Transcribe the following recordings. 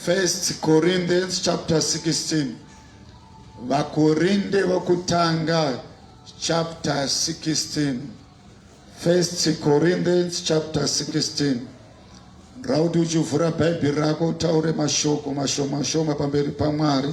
First Corinthians chapter 16. Vakorinde vokutanga chapter 16. First Corinthians chapter 16. Rauti uchivhura Bhaibheri rako utaure mashoko mashoma shoma pamberi paMwari.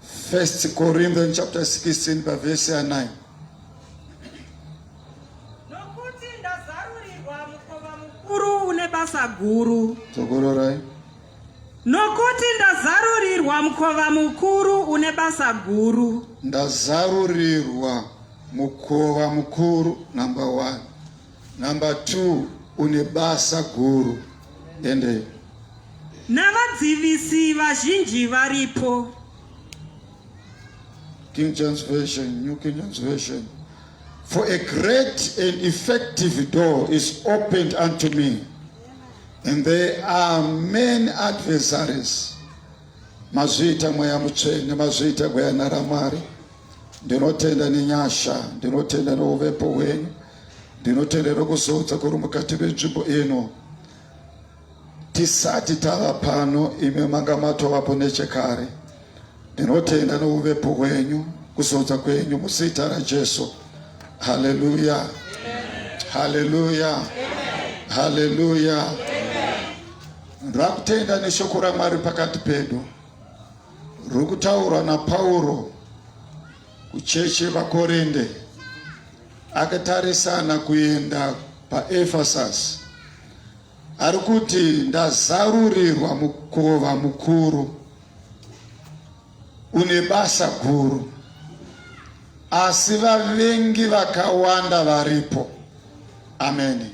First Corinthians chapter 16 by verse 9. Nokuti ndazarurirwa mukova mukuru une basa guru. Tokororai. Nokuti ndazarurirwa mukova mukuru une basa guru. Ndazarurirwa mukova mukuru number 1. Number two, une basa guru ende navadzivisi vazhinji varipo. King James Version, New King James Version. For a great and effective door is opened unto me, and there are many adversaries. Mazviita mweya mutsvene, mazviita gwayana ramwari. Ndinotenda nenyasha, ndinotenda neuvepo hwenyu. Ndinotendero kuzoudza kuri mukati menzvimbo ino tisati tava pano imi manga matovapo nechekare ndinotenda nouvepo hwenyu kuzoudza kwenyu muzita rajesu haleluya haleluya haleluya rakutenda neshoko ramwari pakati pedu rikutaurwa napauro Kuchechi vaKorinde akatarisana kuenda paEfesasi ari kuti ndazarurirwa mukova mukuru une basa guru, asi vavengi vakawanda varipo. Ameni,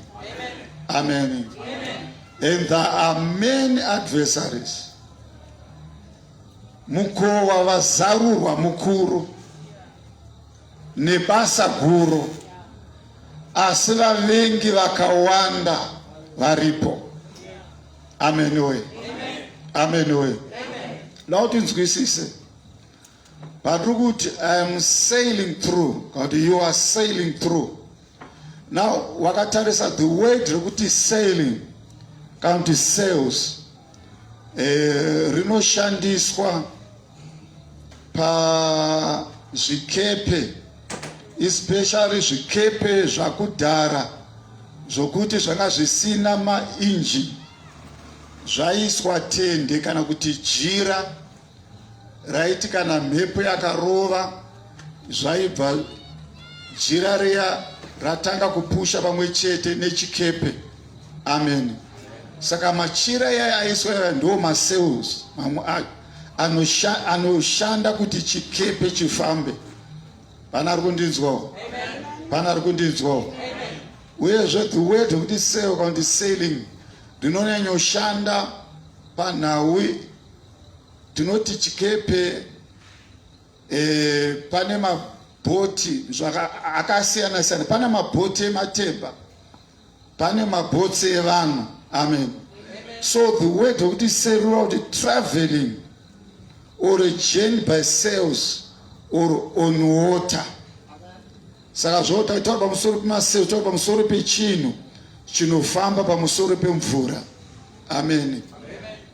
ameni. And there are many adversaries Mukowa wazarurwa mukuru nebasa guru, asi vavengi vakawanda varipo. Amen we. Amen we. Loud inzwisise. But look, I am sailing through. God, you are sailing through. Now wakatarisa the word rekuti sailing kana kuti sales eh, rinoshandiswa pazvikepe especially zvikepe zvakudhara zvokuti zvanga zvisina mainjini zvaiswa tende kana kuti jira raiti kana mhepo yakarova zvaibva jira riya ratanga kupusha pamwe chete nechikepe amen saka machira yaya aiswa yaya ndo macells mamwe ayo anoshanda kuti chikepe chifambe pana ari kundinzwawo pana ari kundinzwawo uyezve the word wekuti sale kana kuti sailing rinonyanyoshanda panhau Tinoti chikepe eh, pane mabhoti akasiyana siyana, pane mabhoti ematemba, pane mabhotsi evanhu. Amen. So the word of this serura kuti traveling or a journey by sails or on water. Saka zvota taura pamusoro pemasails, taura pamusoro pechinhu chinofamba pamusoro pemvura. Amen.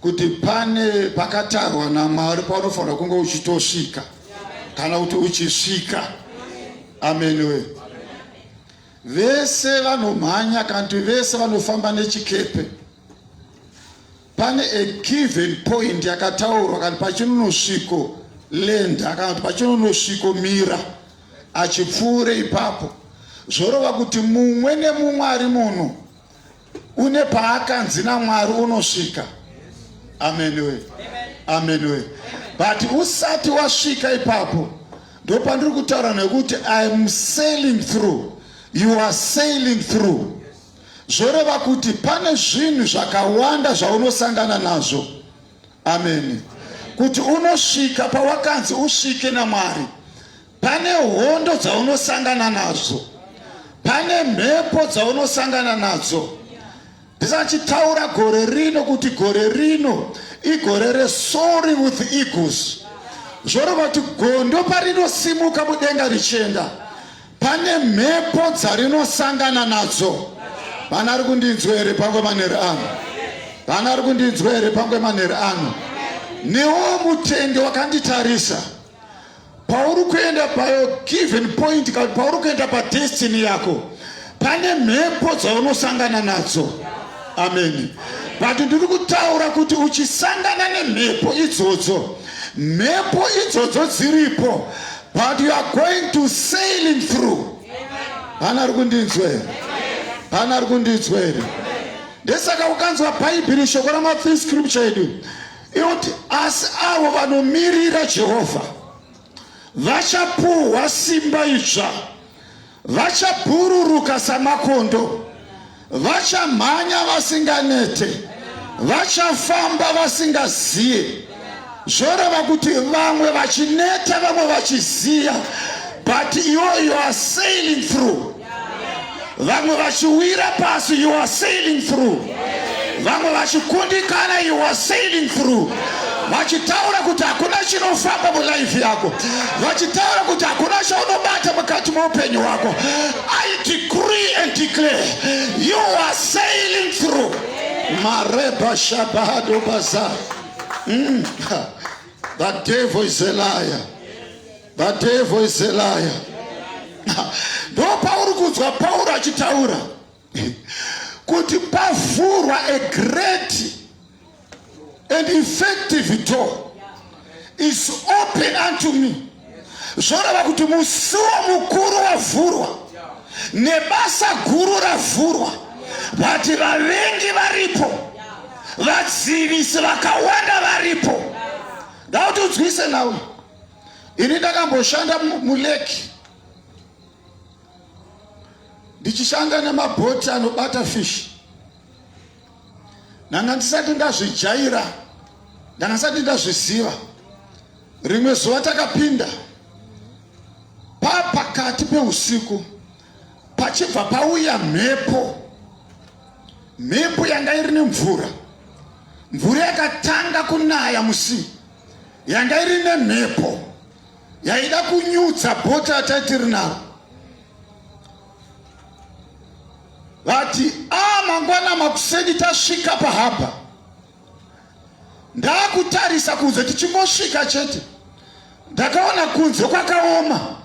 kuti pane pakatarwa naMwari paunofanira kunge uchitosvika kana kuti uchisvika ameni we vese vanomhanya kana kuti vese vanofamba nechikepe pane a given point yakataurwa kana pachinonosviko lenda kana kuti pachinonosviko mira achipfuure ipapo zvorova kuti mumwe nemumwe ari muno Une paakanzi naMwari unosvika. Amen we. Amen we. But usati wasvika ipapo ndopandiri kutaura nekuti I am sailing through. You are sailing through. Zvoreva kuti pane zvinhu zvakawanda zvaunosangana nazvo. Amen. Kuti unosvika pawakanzi usvike naMwari. Pane hondo dzaunosangana nadzo, pane mhepo dzaunosangana nadzo. Ndisachitaura gore rino kuti gore rino igore resori with eagles zvoreva kuti gondo parinosimuka mudenga richienda pane mhepo dzarinosangana nadzo vana ari kundinzwa here pangwe manheri ano vana ari kundinzwa here pangwe manheri ano newo mutende wakanditarisa Pauri kuenda payo given point kana pauri kuenda padestiny yako pane mhepo dzaunosangana nadzo. Amen. But ndiri kutaura kuti uchisangana nemhepo idzodzo, mhepo idzodzo dziripo but you are going to sailing through. Hana ari kundinzwa here? Hana ari kundinzwa here? Ndesaka ukanzwa Bhaibheri shoko rama free scripture edu Inoti asi avo vanomirira Jehovha vachapuhwa simba idzva, vachabhururuka samakondo, vachamhanya vasinganete, vachafamba vasingaziye. Zvoreva kuti vamwe vachineta, vamwe vachiziya, but iwo you are sailing through vamwe vachiwira pasi you are sailing through vamwe vachikundikana you are sailing through vachitaura kuti hakuna chinofamba mulife yako vachitaura kuti hakuna chaunobata mukati meupenyu hwako i decree and declare you are sailing through mareba shabahado baza mm. the devil is a liar The devil is a liar. Ndo pauri kunzwa Pauro achitaura kuti pavhurwa a great and effective door is open unto me. Zvoreva kuti musuwo mukuru wavhurwa nebasa guru ravhurwa, but vavengi varipo, vadzivisi vakawanda varipo. Ndauti udzwise nawo. Ini ndakamboshanda muleki ndichishanda nemabhoti anobata fish ndanga ndisati ndazvijaira ndanga ndisati ndazviziva rimwe zuva takapinda paa pakati peusiku pachibva pauya mhepo mhepo yanga iri nemvura mvura yakatanga kunaya musii yanga iri nemhepo yaida kunyutsa bota ataitiri naro vati a ah, mangwana makuseni tasvika pahaba ndaakutarisa kunze tichingosvika chete ndakaona kunze kwakaoma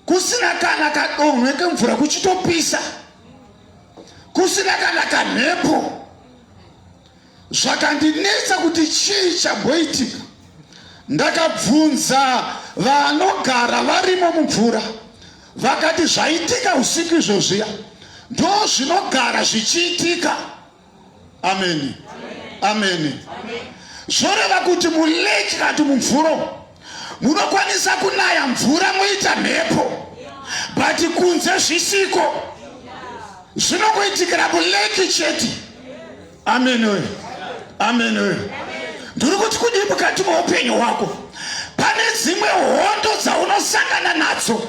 kusina kana kadonhwe kemvura kuchitopisa kusina kana kamhepo Zvakandinetsa kuti chii chamboitika. Ndakabvunza vanogara varimo mumvura vakati zvaitika usiku izvozviya ndo zvinogara zvichiitika. Ameni, ameni. Zvoreva kuti muleki kati mumvuro munokwanisa kunaya mvura moita mhepo but kunze zvisiko zvinokuitikira muleki chete. Amen we. Amen we. Ndiri kuti kudii mukati meupenyu hwako pane dzimwe hondo dzaunosangana nadzo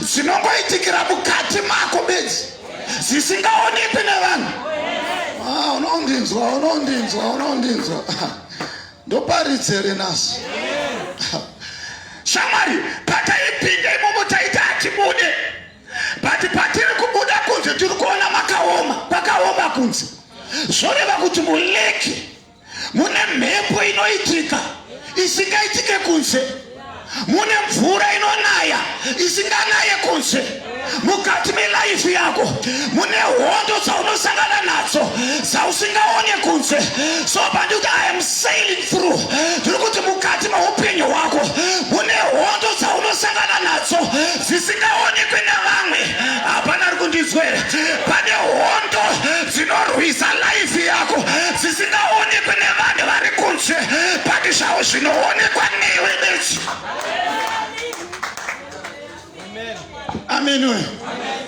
dzinongoitikira mukati mako bedzi dzisingaonekwi nevanhu ah, unondinzwa unondinzwa unondinzwa ndoparidzere naso shamwari pataipinda imomo taita atibude but patiri kubuda kunze tiri kuona makaoma kwakaoma kunze zvoreva kuti muleki mune mhepo inoitika isingaitike kunze mune mvura inonaya isinganaye kunze mukati melaifi yako mune hondo dzaunosangana nadzo dzausingaone kunze so pandikuti i am sailing through tiri kuti mukati meupenyu hwako mune hondo dzaunosangana nadzo zvisingaonekwe navamwe hapana ari kundinzwera pane hondo dzinorwisa laifi yako dzisingaonekwe nevanhu vari kunze pati zvavo zvinoonekwa newe bedzi amen, amen. amen.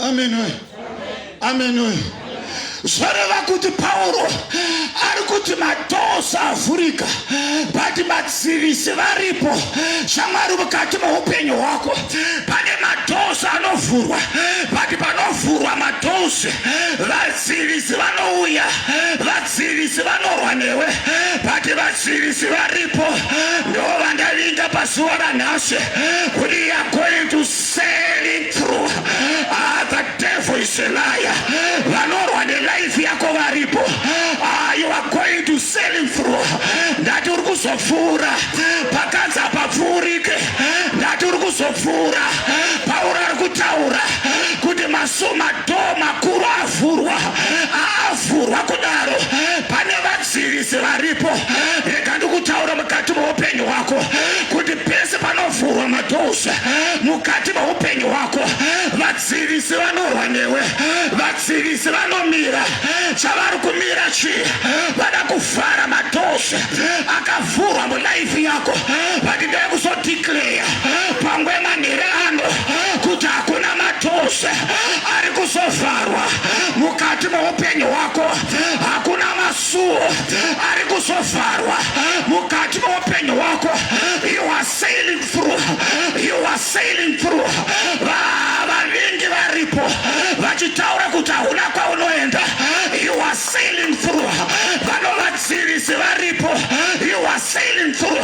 Amen we. Amen we. Zvoreva kuti Pauro ari kuti madoors avhurika but madzivisi varipo shamwari mukati meupenyu hwako pane madoors anovhurwa but panovhurwa madoors vadzivisi vanouya vadzivisi vanorwa newe but vadzivisi varipo ndovandavinga pazuva ranhasi kuti yagointus Selling through. Ah, the devil is a liar. Vanorwa nelife yako varipo. Ah, you are going to selling through. Ndati uri kuzopfuura. Pakanzi hapapfuurike. Ndati uri kuzopfuura. Pauro ari kutaura kuti masumadhoo makuru avhurwa. Avhurwa kudaro. Pane vadzivisi varipo. Rega ndikutaura mukati meupenyu hwako kuti pese panovhurwa madhoo mukati meupenyu hwako vadzivisi vanorwa newe vadzivisi vanomira chavari kumira chii vada kuvhara matosha akavhurwa mulaifi yako vati ndeve kuzodeclare pangwe manhere ano kuti hakuna matosha ari kuzovharwa mukati meupenyu hwako hakuna masuo ari kuzovharwa mukati meupenyu hwako you are sailing through you are sailing through vavingi varipo vachitaura kuti hauna kwaunoenda you are sailing through vanovadzivisi varipo you are sailing through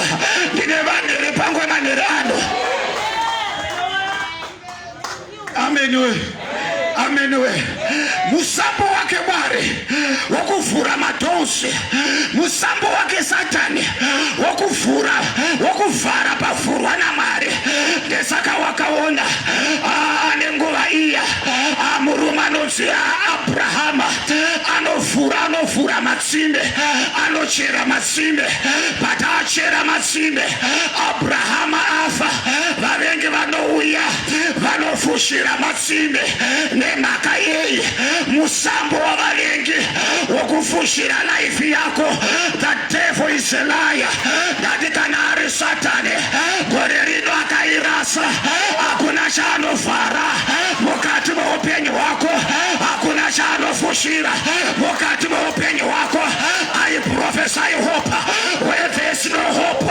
ndine vanhu repangwe manhero ano Amen we. Amen we. Musambo wake Mwari wokuvhura madhonsi, musambo wake Satani wokuvhura wokuvhara pavhurwa naMwari. Ndesaka wakaona ah, nenguva iya ah, murume anonzi Abrahama anovhura anovhura matsime anochera matsime but achera matsime Abrahama afa vavengi vanouya vanofushira matsime nemhaka yei musambo wavavengi wokufushira laifi yako the devil is a liar ndati kana ari satani gore rino akairasa hakuna chaanovhara mukati meupenyu hwako hakuna chaanofushira mukati meupenyu hwako aiprofesai hope where there's no hope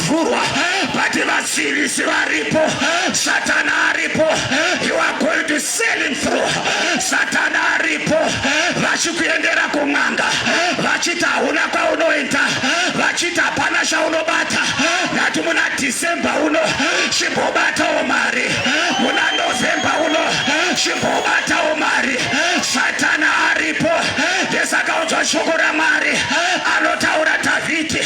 vhurwa but vasiririsi varipo satana aripo you are going to selling through satana aripo vachikuendera kun'anga vachiti hauna kwaunoenda vachiti hapana chaunobata nati muna december uno chimbobatawo mari muna november uno chimbobatawo mari satana aripo ndesakaunzwa shoko ramwari anotaura dhavhidhi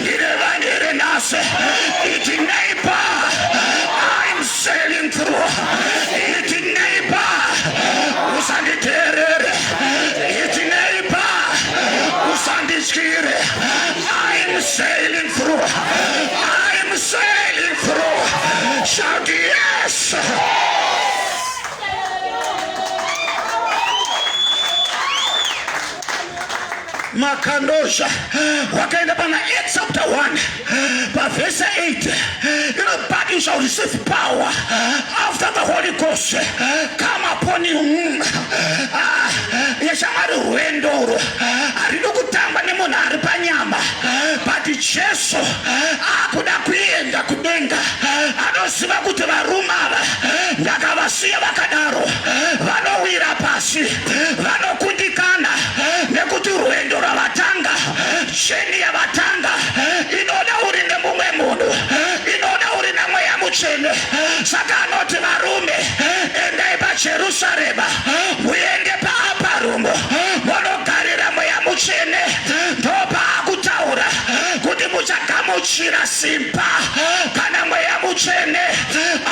ndine vangere nhasi iti neighbor I'm sailing through iti neighbor usanditeerere iti neighbor usandityire I'm sailing through I'm sailing through shout yes makandozha wakaenda pana Acts chapter 1 pavhesa 8 ino but you shall receive power after the holy ghost come upon you mm. ah, yeshamwari rwendo urwo haridi kutamba nemunhu ari panyama but jesu akuda kuenda kudenga anoziva kuti varume ava ndakavasiya vakadaro vanowira pasi vanokundikana nekuti rwendo rwavatanga jeni yavatanga inoda uri nemumwe munhu inoda uri namweya mutsvene saka anoti varume endai pajerusarema muende paaparumo monogarira mweya mutsvene ndopaakutaura kuti muchagamuchira simba kana mweya mutsvene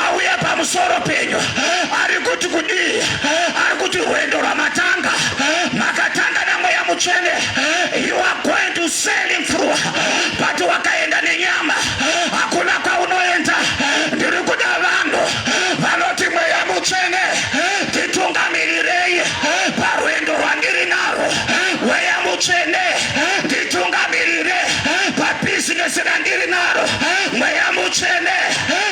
auya pamusoro penyu ari kuti kudii ari kuti rwendo rwamatanga makatanga namweya mutsvene you are going to sell him through but wakaenda nenyama hakuna kwaunoenda ndiri kuda vanhu vanoti mweya mutsvene nditungamirirei parwendo rwandiri narwo mweya mutsvene nditungamirire pabizinesi randiri naro mweya mutsvene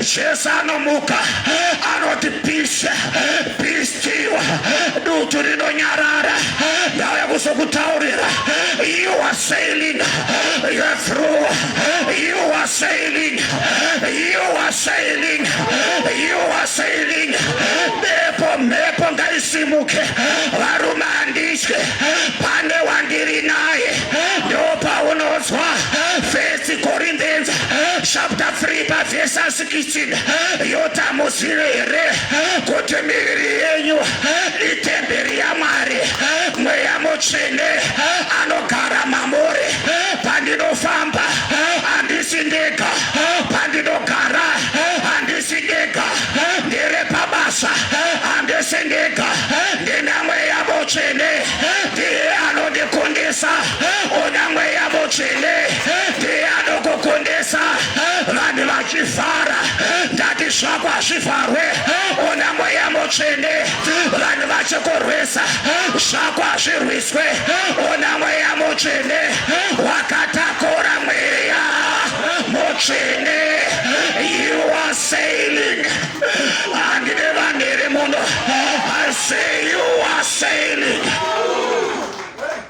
Jesu anomuka anoti peace be still, dutu rinonyarara. Ndauya kuzokutaurira, you are sailing through, you are sailing, you are sailing, you are sailing. Bepo mhepo ngaisimuke, varume handitye, pane wandiri naye, ndopaunodzwa First Corinthians chapter 3 pavhesa 16 yotamudzire here kuti miviri yenyu itemberi yamwari mweya mutsvene anogara mamuri pandinofamba handisi ndega pandinogara handisi ndega ndiri pabasa handisi ndega ndina mweya mutsvene ndiye anondikundisa Ona mweya mutsvene ndiye anokukundisa vanhu vachivhara ndati zvako hazvivharwe ona mweya mutsvene vanhu vachikurwisa zvako hazvirwiswe ona mweya mutsvene wakatakura mweya mutsvene you are sailing handine vanhu iri muno i say you are sailing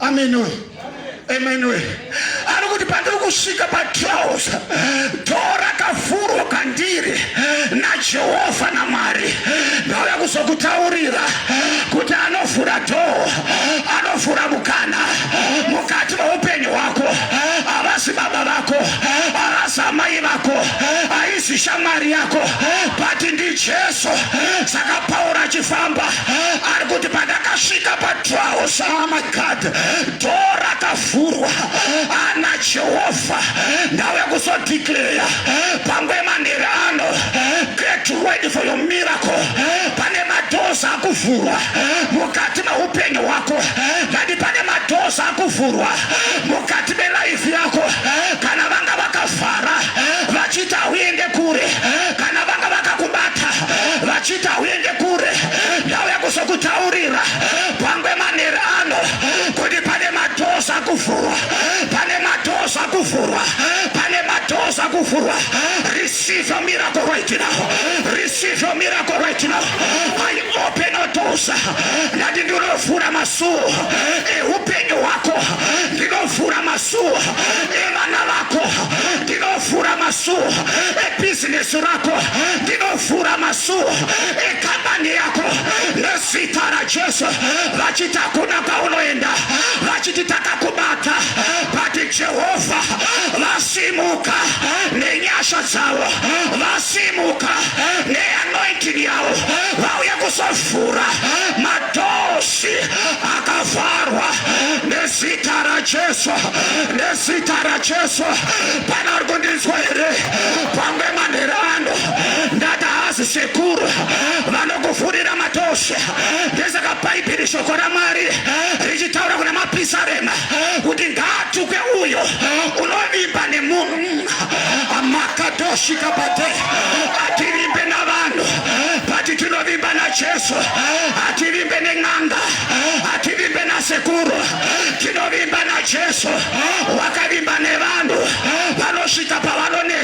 Amenoe. Amenoe. Ari kuti pandiri kusvika patrouse door rakavhurwa kandiri naJehovha naMwari ndauya kuzokutaurira kuti anovhura door anovhura mukana mukati meupenyu hwako havasi baba vako havasi amai vako haisi shamwari yako but ndijesu saka pauro achifamba ari kuti pandakasvika pa Twaosaramagad do rakavhurwa ana Jehovha ndave kuzodeclare pangwe manheri ano get ready for your miracle pane madoors akuvhurwa mukati meupenyu hwako ndati pane madoors akuvhurwa mukati melife yako kana vanga vakavhara vachita uende kure kana vanga vakakubata vachita uende kure auya kuzokutaurira pangwe manheri ano kuti pane matoza kuvhurwa pane matoza kuvhurwa pane matoza kuvhurwa receive your miracle right now receive your miracle right now i open your doors ndati ndinovhura masuo eupenyu hwako ndinovhura masuo evana vako ndinovhura masuo ebhizinesi rako ndino vhura masuwo ekambani yako nezita rajesu vachiti hakuna kwaunoenda vachiti takakubata vati jehovha vasimuka nenyasha dzavo vasimuka neanointini yavo vauye kuzovhura madosi akavharwa nezita rajesu nezita rajesu pana uri kundinzwa here pamwe manherano ndakahazi sekuru vanokufurira matoshe ndesaka bhaibheri shoko ramwari richitaura kuna mapisarema kuti ngaatuke uyo unovimba nemunhu amakatoshika pate ativimbe navanhu pati tinovimba najesu ativimbe nen'anga ativimbe nasekuru tinovimba najesu wakavimba nevanhu vanosvika pavanoneta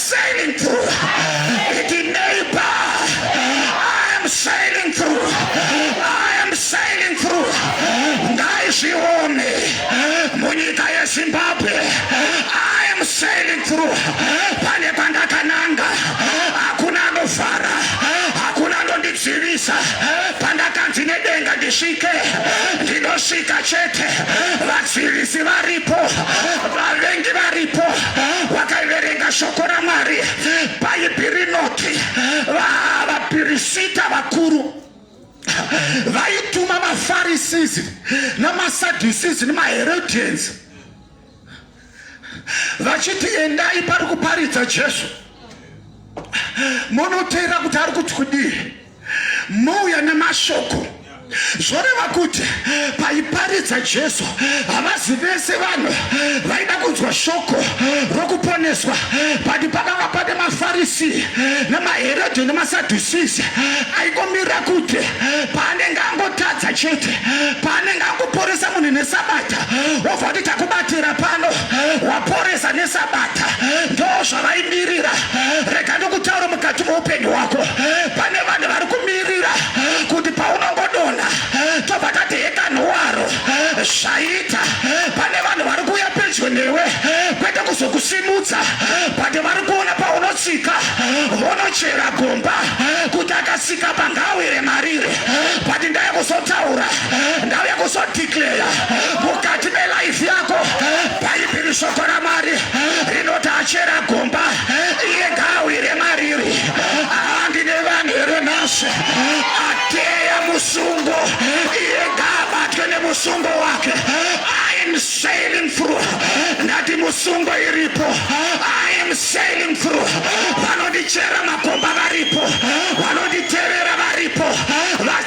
sailing through iti neighbor i am sailing through i am sailing through ndaizvione munyika yezimbabwe i am sailing through pane pandakananga hakuna anovhara hakuna anondizivisa pandakanzi nedenga ndisvike ndinosvika chete vazivisi varipo vavengi varipo vakaiverenga shoko ramwari bhaibhi rinoti vapirisita vakuru vaituma mafarisizi namasadhisizi nemaherodians vachiti endai pari kuparidza jesu munoteera kuti ari kuti kudii mouya nemashoko zvoreva kuti paiparidza jesu havazi vese vanhu vaida kunzwa shoko rokuponeswa but pakanga pane mafarisi nemaherodhi nemasadhusisi aikomira kuti paanenge angotadza chete paanenge angoporesa munhu nesabata wobva kuti takubatira pano waporesa nesabata ndozvavaimirira rega ndokutaura mukati meupenyu hwako pane vanhu vari kumirira kuti paunongodonha tobva tati hekanhuwaro zvaita pane vanhu vari kuuya pedyo newe kwete kuzokusimudza but vari kuona paunotsika vonochera gomba kuti akasika pangawire marire but ndaya kuzotaura ndauya kuzoti mukati melife yako bhaibheri shoko ramwari rinoti achera gomba iye ngaawire mariri handi nevanhu here nhasi ateya musungo iye ngaabatwe nemusungo wake I'm sailing through ndati musungo iripo I am sailing through vanondichera makomba varipo vanonditevera varipo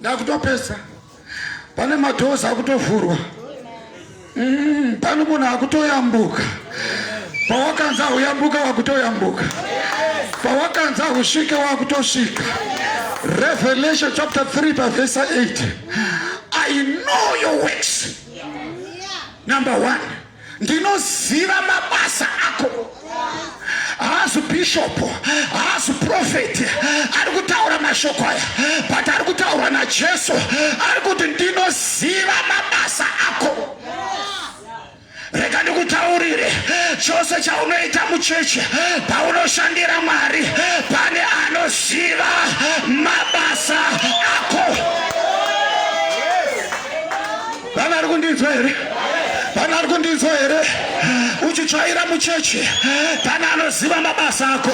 ndakutopesa pane madhozi akutovhurwa mm, pane munhu akutoyambuka pawakanzi ahuyambuka wakutoyambuka pawakanzi ahusvike wakutosvika revelation chapter 3 pavhesa 8 i know your works number one ndinoziva mabasa ako haazi bhishopu haazi profeti ari kutaura mashoko aya but ari kutaurwa najesu ari kuti ndinoziva mabasa ako rega ndikutaurire chose chaunoita muchechi paunoshandira mwari pane anoziva mabasa ako Vana ari kundinzwa here? Vana ari kundinzwa here? Uchitsvaira mucheche pana anoziva mabasa ako.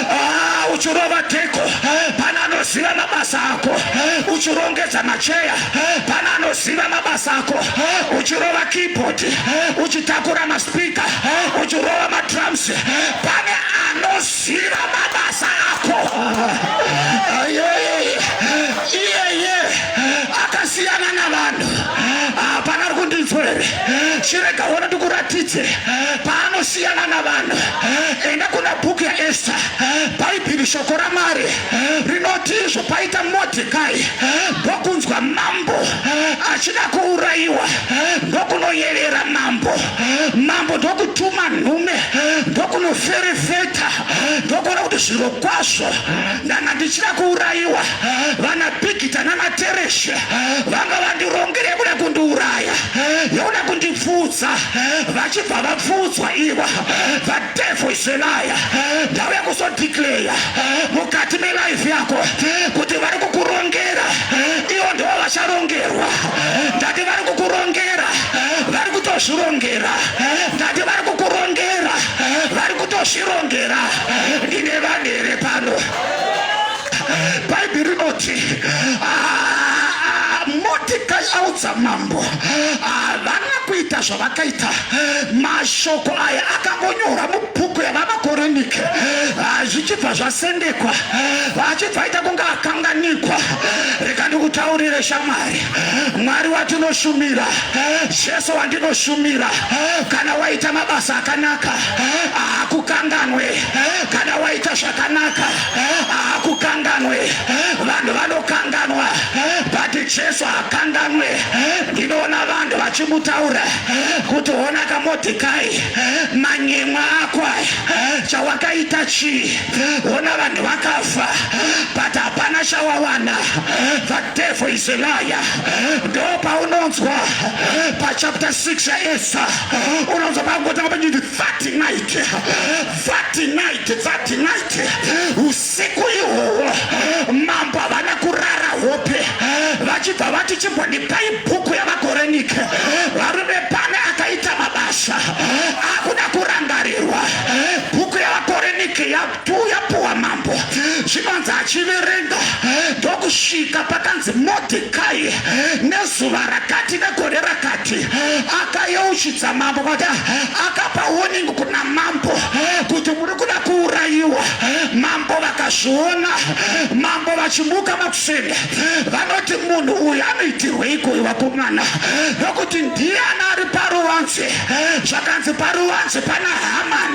Ah, uchirova teko pana anoziva mabasa ako. Uchirongedza macheya pana anoziva mabasa ako. Uchirova keyboard, uchitakura maspika, uchirova madrums pane anoziva Tsigira mabasa ako. Ayeye. Iyeye. Akasiyana navanhu. Hapana ari kundidzwa here? Chirega wona ndikuratidze paanosiyana navanhu. Enda kuna bhuku yaEsta. Bhaibheri shoko raMwari rinoti izvo paita Modhekai ndokunzwa mambo achida kuurayiwa ndokunoyevera mambo. Mambo ndokutuma nhume ndokuno ferefeta ndokuona kuti zviro kwazvo ndanga ndichida kuurayiwa vana bigita namatereshe vanga vandirongere yekuda kundiuraya yekuda kundipfudza vachibva vapfuudzwa iwa vadevho iselaya ndauya kuzodikleya mukati melaife yako kuti vari kukurongera ivo ndivo vacharongerwa ndati vari kukurongera vari kutozvirongera ndati vari kukurongera vari kutozvirongera ndine vanhu here pano bhaibheri rinoti ah, motikai audza mambo havana ah, kuita zvavakaita mashoko aya akangonyora mubhuku yavamakoronike ah, zvichibva zvasendekwa achibva aita kunge akanganikwa rega ndikutaurire shamwari Mwari watinoshumira, Jesu wandinoshumira, kana waita mabasa akanaka hakukanganwe, kana waita zvakanaka hakukanganwe. Vanhu vanokanganwa but Jesu hakanganwe. Ndinoona vanhu vachimutaura kuti hona kaModhekai, manyemwa ako aya, chawakaita chii? Hona vanhu vakafa but hapana chawawana. devil is a liar ndo paunonzwa pachapter 6 yaesa unonzwa pakungotanga pachinzi that night that night that night usiku ihwohwo mambo havana kurara hope vachibva vati chimbondipai bhuku yavakorenike varume pane akaita mabasa akuda kurangarirwa bhuku yavakorenike ya Kuuya puwa mambo zvinonzi achiverenga ndokusvika pakanzi Modhekai nezuva rakati negore rakati akayeuchidza mambo kuti akapa warning kuna mambo kuti muri kuda kuurayiwa mambo vakazviona mambo vachimuka makuseni vanoti munhu uyu anoitirweiko uyu vakomana nokuti ndiye ana ari paruwanzi zvakanzi paruwanzi pana hamani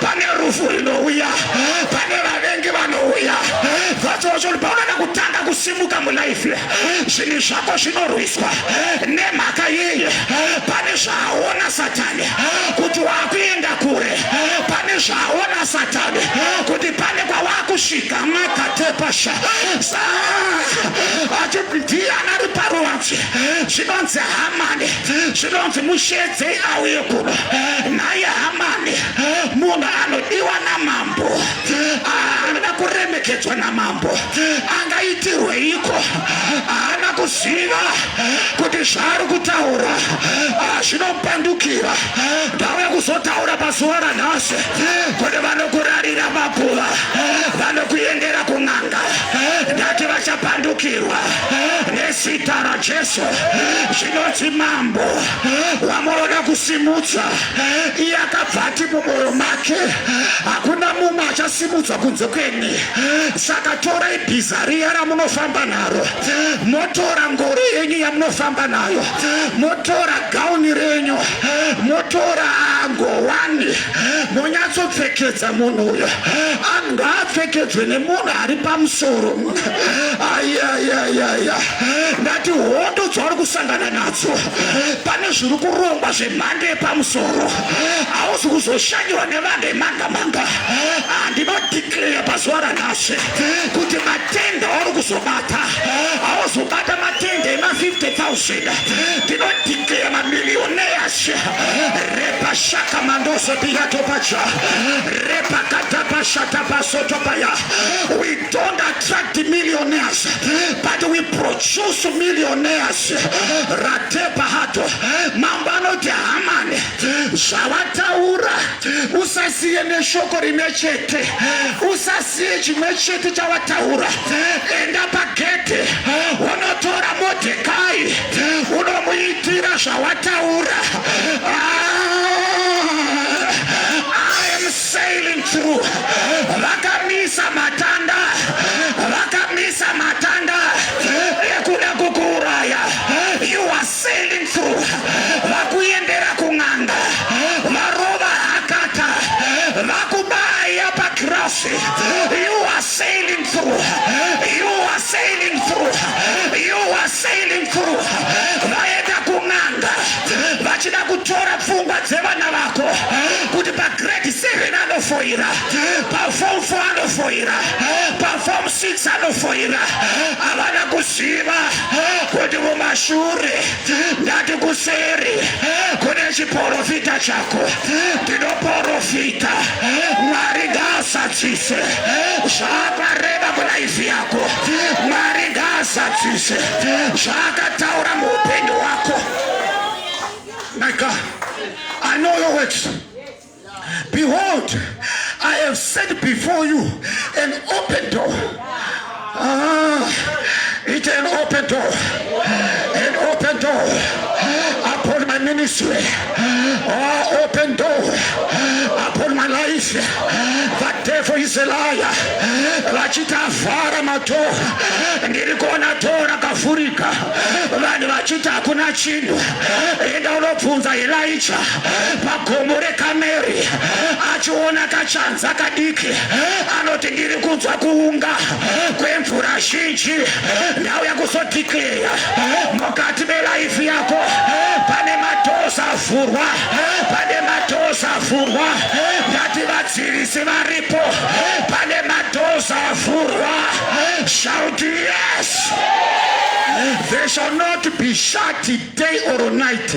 pane rufu rinouya pane vavengi vanouya vachocho paunoda kutanga kusimuka mulife zvinhu zvako zvinorwiswa nemhaka yeye pane zvaaona satani kuti waakuenda kure pane zvaaona satani kuti pane kwawaakusvika makatepasha achibhidhiya anari paruvanzi zvinonzi hamani zvinonzi musheedzei auye kuno naye hamani munhu anodiwa namambo anoda kuremekedzwa namambo angaitirweiko haana kuziva kuti zvaari kutaura zvinopandukira ndauya kuzotaura pazuva ranhasi kuti vanokurarira makuva vanokuendera kun'anga ndati vachapandukirwa nezita rajesu zvinoti mambo wamunoda kusimudza iye akabva ati mumwoyo make hakuna mumwe achasimudzwa kunze kweni saka torai bhiza riya ramunofamba naro motora ngoro yenyu yamunofamba nayo motora gauni renyu motora ngowani monyatsopfekedza munhu uyo angaapfekedzwe nemunhu ari pamusoro ayayayaya ndati hondo dzauri kusangana nadzo pane zviri kurongwa zvemhando yepamusoro hauzi kuzoshanyirwa nevanga emanga manga handinodikleya pazuva ranhasi kuti matenda auri kuzobata hauzobata matenda ema 50000 ndinodikleya mamiliyoneyas repa shaka mandoso piyatopaja repa katapashatapasotopaya don't attract millionaires but we produce millionaires ratepa hato mambo anoti hamani zvavataura usasiye neshoko rimwe chete usasiye chimwe chete chavataura enda pagedhe unotora modhekai unomuitira zvawataura ah! Sailing through vakamisa matanda vakamisa matanda ekuda kukuuraya you are sailing through vakuendera kun'anga varova hakata vakubaya pagrasi you are sailing through. You are sailing through. You are sailing through. Vaenda kun'anga vachida kutora pfungwa dzevana vako kuti pagrade 7 anofoira, paform 4 anofoira, paform 6 anofoira. Havana kuziva kuti mumashure ndati kuseri kune chiporofita chako. Ndinoporofita Mwari ngaasadzise. zvaakareva mulaifi yako mwari ngaazadzise zvaakataura muupenyu hwako my god i know your words behold i have set before you an open door Ah, it's an open door. An open door upon my ministry. Oh, open door upon my life. The devil is a liar. Vachita vhara mato. Ndiri kuona to rakavhurika. Vanhu vachita hakuna chinhu. Enda unobvunza Elijah pagomo reKameri. Achiona kachanza kadiki. Anoti ndiri kunzwa kuunga kwemvura zhinji ndauya kuzodhikleya mukati melaifi yako pane matoza avhurwa pane matoza avhurwa ndati vadzivisi varipo pane matoza avhurwa shout yes they shall not be shut day or night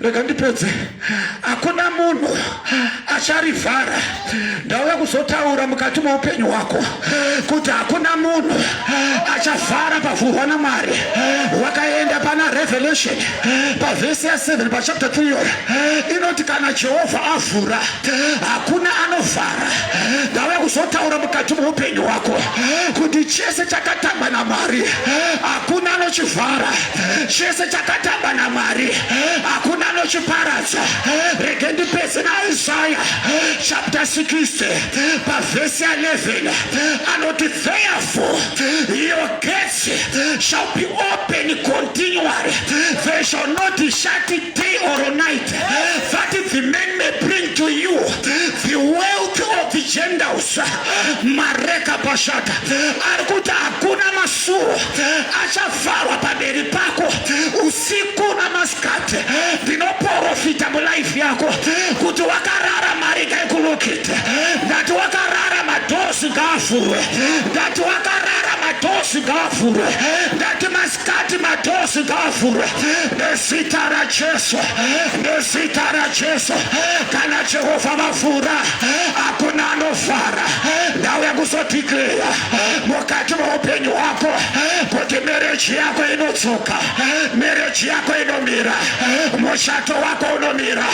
rega ndipedze hakuna munhu acharivhara ndauya kuzotaura mukati meupenyu hwako kuti hakuna munhu achavhara pavhurwa namwari wakaenda pana revelation pavhesi ya 7 pachapter 3 yoyo inoti kana jehovha avhura hakuna anovhara ndauya kuzotaura mukati meupenyu hwako kuti chese chakatamba namwari hakuna anochivhara chese chakatamba namwari hakuna anochiparadza rege ndipese naisaya chapter 60 pavhesi ya 11 anoti therefore your gates shall be open continually they shall not shut day or night that the men may bring to you the wealth of the gentiles mareka pashata ari kuti hakuna Sure achafara pamberi pako usiku namasikati ndinoporofita mulife yako kuti wakarara mari ngaikulukite ndati wakarara madosi ngaavhurwe ndati wakarara madosi ngaavhurwe ndati masikati madosi ngaavhurwe nezita rajesu nezita rajesu kana jehovha vavhura hakuna ano Fara, ndauya kuzodhikleya mukati meupenyu hwako kuti mereji yako inodzoka, mereji yako inomira, mushato wako unomira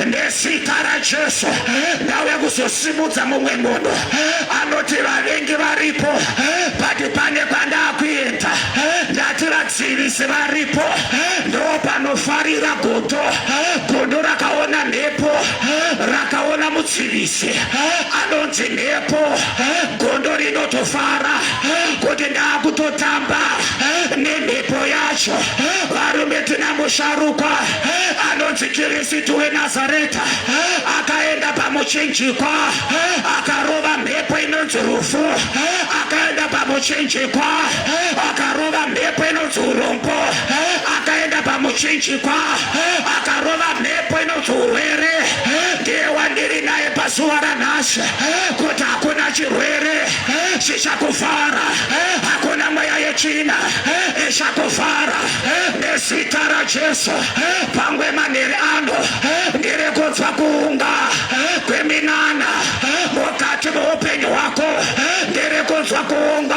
nesita raJesu. Ndauya kuzosimudza mumwe munhu anoti vavengi varipo, but pane kwandakuenda ndati vadzivisi varipo, ndopanofarira godo godo rakaona mhepo rakaona mudzivisi anonzi mhepo gondo rinotofara kuti ndakutotamba nemhepo yacho varume tina musharukwa anonzi kirisitu wenazareta akaenda pamuchinjikwa akarova mhepo inonzi rufu akaenda pamuchinjikwa akarova mhepo inonzi urombo akaenda pamuchinjikwa akarova mhepo inonzi urwere ndiye wandiri naye pazuva ranhasi kuti hakuna chirwere chichakuvhara hakuna mweya yechina ichakuvhara nezita rajesu pangwe manhiri ano ndiri kunzwa kuunga kweminana mukati meupenyu hwako ndiri kunzwa kuunga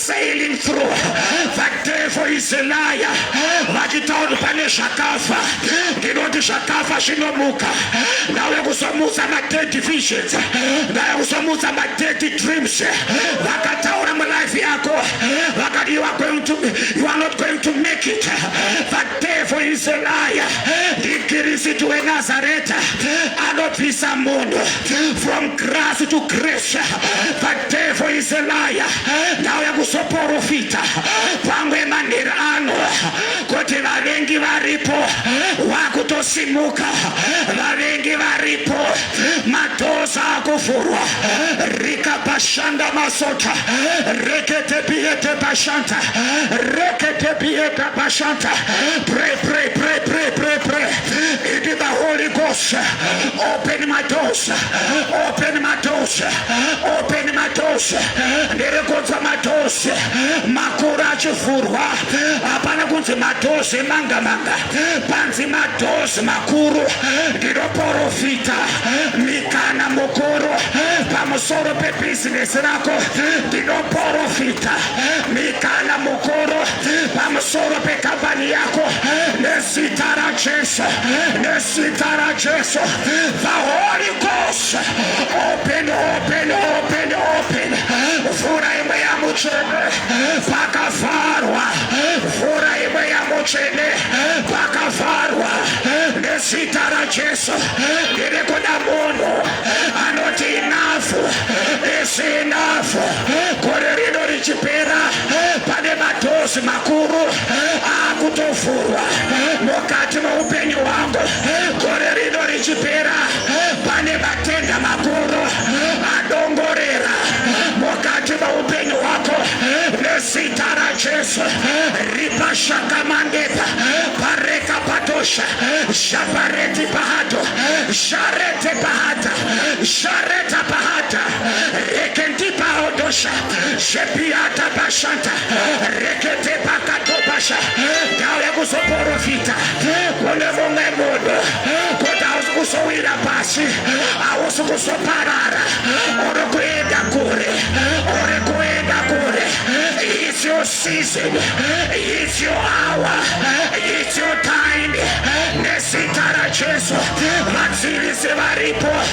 sailing through the devil is a liar vachitaura pane zvakafa ndinoti zvakafa zvinomuka ndauya kuzomutsa madead visions ndauya kuzomutsa madead dreams vakataura mulife yako vakati you are going to you are not going to make it Devil is a liar. Ndikirisitu weNazareta anobvisa munhu from grass to grace. The devil is a liar. Ndauya kuzoporofita pamwe manheri ano kuti vavengi varipo wakutosimuka, vavengi varipo, madhoza akuvhurwa rikapashanda masota rekete biyete pashanta rekete biyete Bashanta, pray, pray, pray, pray, pray, pray. It is the Holy Ghost. Open my doors. Open my doors. Open my doors. Ndiri kunzwa madosi makuru achivhurwa. Hapana kunzi madosi manga manga. Panzi madosi makuru. Ndinoporofita mikana mukuru pamusoro pebizinesi rako. Ndinoporofita mikana mukuru. pamusoro pekambani yako nezita rajesu nezita rajesu the holy ghost open open open open vhura imwe yamutsvene pakavharwa vhura imwe yamutsvene pakavharwa nezita rajesu ndiri kuda munhu anoti inafu isinafu gore rino richipera pane madhozi makuru akutovhurwa mukati moupenyu hwangu gore rino richipera pane matenda makuru adongorera mukati moupenyu hwako nezita rajesu ripashakamangepa pareka patosha shapareti pahato sharete pahata shareta pahata rekendipaodosha Shepiata bashanta rekete pakato basha ndauya kuzoporofita kune mumwe munhu kuti hausi kuzowira pasi hausi kuzoparara uri kuenda kure uri kuenda kure it's your season it's your hour it's your time nezita rajesu vadzivisi varipo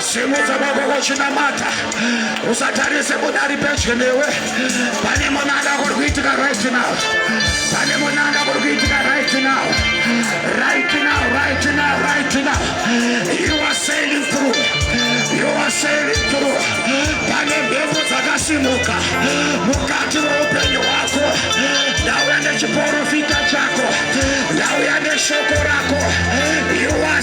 Simudza baba vachinamata, usatarise kuda ari pedyo newe. Pane munanda kuri kuitika right now, pane munanda kuri kuitika right now, right now, right now, right now. You are sailing through, you are sailing through. Pane mhepo dzakasimuka mukati meupenyu hwako, ndauya nechiporofita chako, ndauya neshoko rako. You are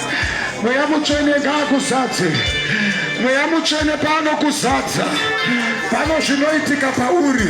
mweya mutsvene ngaakuzadze mweya mutsvene paanokuzadza pano zvinoitika pauri